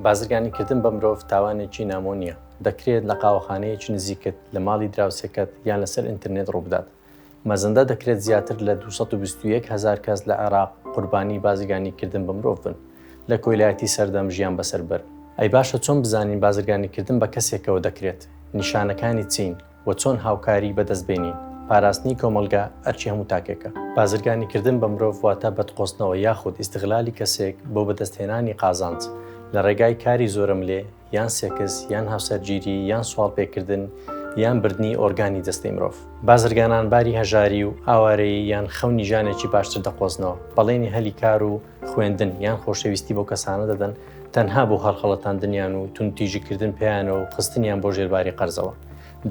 بازرگانی کردن بە مرۆڤ تاوانێکی نامۆ نییە دەکرێت لە قاوەخانەیەکی نزیکت لە ماڵی دراوسێکەت یان لەسەر ئینتررنێت ڕووبدات مەزەندە دەکرێت زیاتر لە 221 هزار کەس لە عێراق قوربانی بازرگانی کردن بە مرۆڤ بن لە کۆیلایەتی سەردەم ژیان بەسەر بەر ئەی باشە چۆن بزانین بازرگانی کردن بە کەسێکەوە دەکرێت نیشانەکانی چین و چۆن هاوکاری بەدەست بێنین. پاراستنی کۆمەڵگا ئەرکی هەموو تاکێکە. بازرگانی کردن بە مرۆڤ واتە بەدقۆستنەوە یاخود ئیستغلالی کەسێک بۆ بەدەست هێنانی قازانج لە ڕێگای کاری زۆرەملێ یان سێکس یان هاوسەرگیری یان سواڵ پێ کردن یان بردنی ئۆرگانی جەستەی مرۆڤ. بازرگانان باری هەژاری و ئاوارەیی یان خەونی ژانێکی باشتر دەقۆزنەوە، بەڵێنی هەلی کار و خوێندن یان خۆشەویستی بۆ کەسانە دەدەن تەنها بۆ هەڵخەڵەتاندنیان و تون تیژیکردن پێیانەوە و خستنیان بۆ ژێرباری قەرزەوە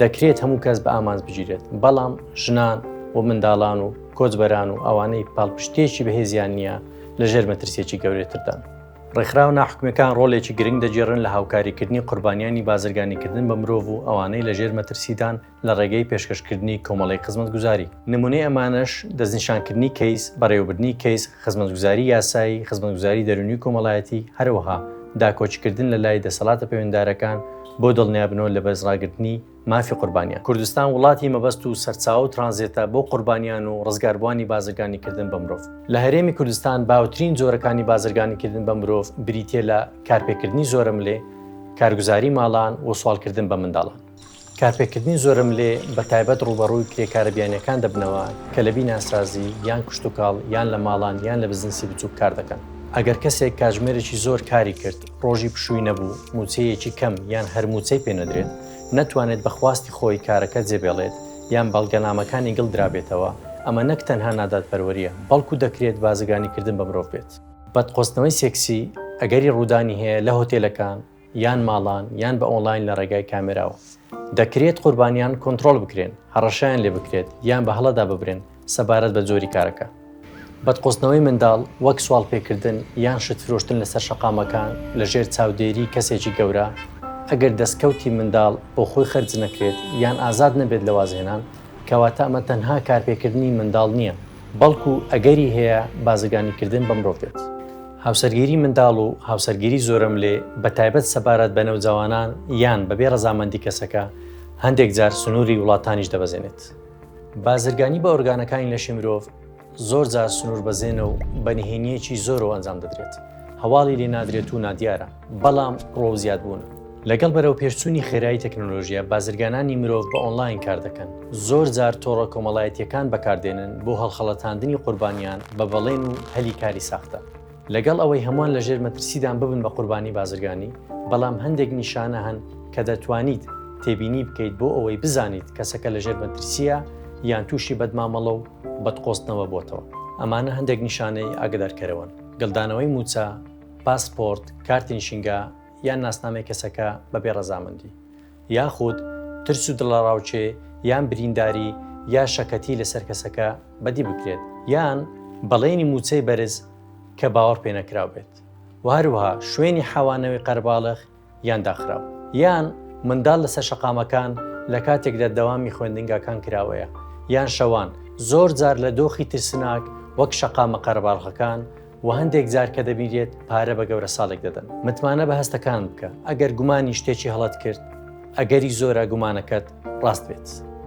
دەکرێت هەموو کەس بە ئامانج بگیرێت بەڵام ژنان و منداڵان و کۆچبەران و ئەوانەی پاڵپشتێکی بەهێزیان نییە لە ژێر مەترسێکی گەورێتردان. ڕێکخراو ناحکومەکان ڕۆلێکی گرنگ دەگێڕن لە هاوکاریکردنی قوربانیانی بازرگانیکردن بە مرۆڤ و ئەوانەی لەژێر مەترسیدان لە ڕێگەی پێشکەشکردنی کۆمەڵەی خزمەتگوزاری. نمونەی ئەمانەش، دەستنیشانکردنی کەیس، بەڕێوەبردنی کەیس، خزمەتگوزاری یاسایی، خزمەتگوزاری دەرونی و کۆمەڵایەتی، هەروەها داکۆکیکردن لە لای دەسەڵاتە پەیوەنددارەکان بۆ دڵنیابنەوە لە بەرزڕاگرتنی مافی قوربانیان. کوردستان وڵاتی مەبەست و سەرچاوە و ترانزێتە بۆ قوربانیان و ڕزگاربوانی بازرگانیکردن بە مرۆڤ. لە هەرێمی کوردستان باوترین جۆرەکانی بازرگانیکردن بە مرۆڤ بریتیە لە کارپێکردنی زۆرەملێ، کارگوزاری ماڵان و سواڵکردن بە منداڵان. کارپێکردنی زۆرەملێ بە تایبەت ڕووبەڕووی کرێکارە بیانییەکان دەبنەوە کە لە بیناسازی، یان کشتوکاڵ، یان لە ماڵان یان لە بزنسی بچووک کار دەکەن. ئەگەر کەسێک کاتژمێرێکی زۆر کاری کرد، ڕۆژی پشووی نەبوو، مووچەیەکی کەم یان هەر مووچەی پێ نەدرێت، نەتوانێت بە خواستی خۆی کارەکە جێبێڵێت یان بەڵگەنامەکانی گڵ درابێتەوە، ئەمە نەک تەنها نادادپەروەرییە، بەڵکو دەکرێت بازرگانیکردن بە مرۆڤ بێت. بتقۆزتنەوەی سێکسی ئەگەری ڕوودانی هەیە لە هۆتێلەکان، یان ماڵان یان بە ئۆنڵاین لە ڕێگای کامێراوە. دەکرێت قوربانیان کۆنتڕۆڵ بکرێن، هەڕەشەیان لێ بکرێت یان بە هەڵەدا ببرێن سەبارەت بە جۆری کارەکە. بەدقۆزتنەوەی منداڵ وەک سواڵپێکردن یان شت فرۆشتن لەسەر شەقامەکان لەژێر چاودێری کەسێکی گەورە، ئەگەر دەستکەوتی منداڵ بۆ خۆی خەرج نەکرێت یان ئازاد نەبێت لە وازهێنان، کەواتە ئەمە تەنها کارپێکردنی منداڵ نییە، بەڵکو ئەگەری هەیە بازرگانیکردن بە مرۆڤ بێت. هاوسەرگیری منداڵ و هاوسەرگیری زۆرەملێ بە تایبەت سەبارەت بە نەوجەوانان یان بەبێ ڕەزامەندی کەسەکە هەندێک جار سنووری وڵاتانیش دەبەزێنێت. بازرگانی بە ئۆرگانەکانی لەشی مرۆڤ زۆر جار سنووربەزێنە و بە نهێنییەکی زۆرەوە ئەنجام دەدرێت، هەواڵی لێ نادرێت و نادیارە. بەڵام ڕۆ زیاد بوون. لەگەڵ بەرەو پێشچوونی خێرایی تەکنۆلۆژیە بازرگانانی مرۆڤ بە ئۆنلاین کار دەکەن زۆر جار تۆڕە کۆمەڵایەتیەکان بەکاردێنن بۆ هەڵخەڵەتاندنی قوربانیان بە بەڵێن و هەلی کاری ساختە لەگەڵ ئەوەی هەمووان لە ژێر مەترسیدان ببن بە قوربانی بازرگانی بەڵام هەندێک نیشانە هەن کە دەتوانیت تێبینی بکەیت بۆ ئەوەی بزانیت کەسەکە لە ژێر مەترسیە یان تووشی بەدمامەڵە و بەدقۆستنەوە بۆتەوە ئەمانە هەندێک نیشانەی ئاگدارکەرەوەن گەلدانەوەی موچە پاسپۆرت، کارتی نشینگە یان ناسنامەی کەسەکە بەبێ ڕەزامەندی، یاخود ترس و دڵەڕاوکێ یان برینداری یا شەکەتی لەسەر کەسەکە بەدی بکرێت، یان بەڵێنی مووچەی بەرز کە باوەڕپێنەکراو بێت و هەروەها شوێنی حەوانەوەی قەرەباڵغ، یان داخراو. یان منداڵ لەسەر شەقامەکان لە کاتێکدا دەوامی خوێندنگاکان کراوەیە، یان شەوان، زۆر جار لە دۆخی ترسناک وەک شەقامە قەرەباڵغەکان و هەندێک جار کە دەبینرێت پارە بە گەورەساڵێک دەدەن. متمانە بە هەستەکانت بکە، ئەگەر گومانی شتێکی هەڵەت کرد، ئەگەری زۆرە گومانەکەت ڕاست بێت.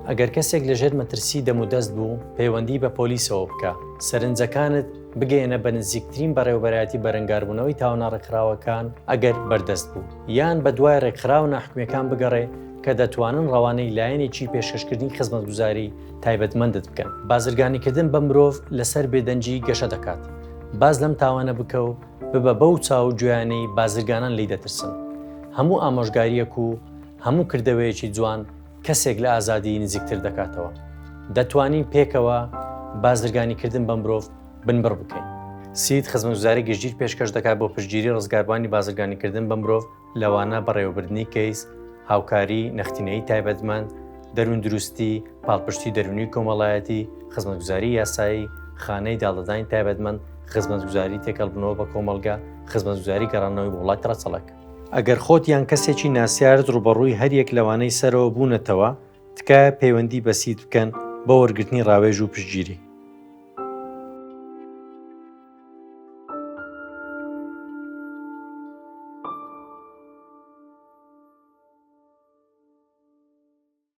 ئەگەر کەسێک لەژێر مەترسی دەمودەست بوو، پەیوەندی بە پۆلیسەوە بکە، سەرنجەکانت. بگەیەنە بە نزیکترین بەڕێوەبەرایەتی بەرەنگاربوونەوەی تاوانە ڕێکخراوەکان ئەگەر بەردەست بوو یان بە دوای ڕێکخراوە ناحکومەکان بگەڕێ کە دەتوانن ڕەوانەی لایەنێکی پێشکەشکردنی خزمەتگوزاری تایبەتمەندت بکەن بازرگانیکردن بە مرۆڤ لەسەر بێدەنگی گەشە دەکات باز لەم تاوانە بکە و ببە بەو چاو گوێیانەی بازرگانان لی دەترسن هەموو ئامۆژگاریەک و هەموو کردەوەیەکی جوان کەسێک لە ئازادیی نزیکتر دەکاتەوە. دەتوانین پێکەوە بازرگانیکردن بە مرۆڤ بنبڕ بکەین. سید خزمەتگوزاری گشتگیر پێشکەش دەکات بۆ پشتگیری ڕزگاربووانی بازرگانیکردن بە مرۆڤ، لەوانە بەڕێوەبردنی کەیس، هاوکاری، نەختینەیی تایبەتمەند، دەرووندروستی، پاڵپشتی دەروونی و کۆمەڵایەتی، خزمەتگوزاری یاسایی، خانەی داڵدەدانی تایبەتمەند، خزمەتگوزاری تێکەڵبوونەوە بە کۆمەڵگە، خزمەتگوزاری گەڕاندنەوەی بۆ وڵاتی ڕەچەڵەک. ئەگەر خۆت یان کەسێکی ناسیارت ڕوبەڕووی هەریەک لەوانەی سەرەوە بوونەتەوە، تکایە پەیوەندی بە سید بکەن بۆ وەرگرتنی ڕاوێژ و پشتگیری.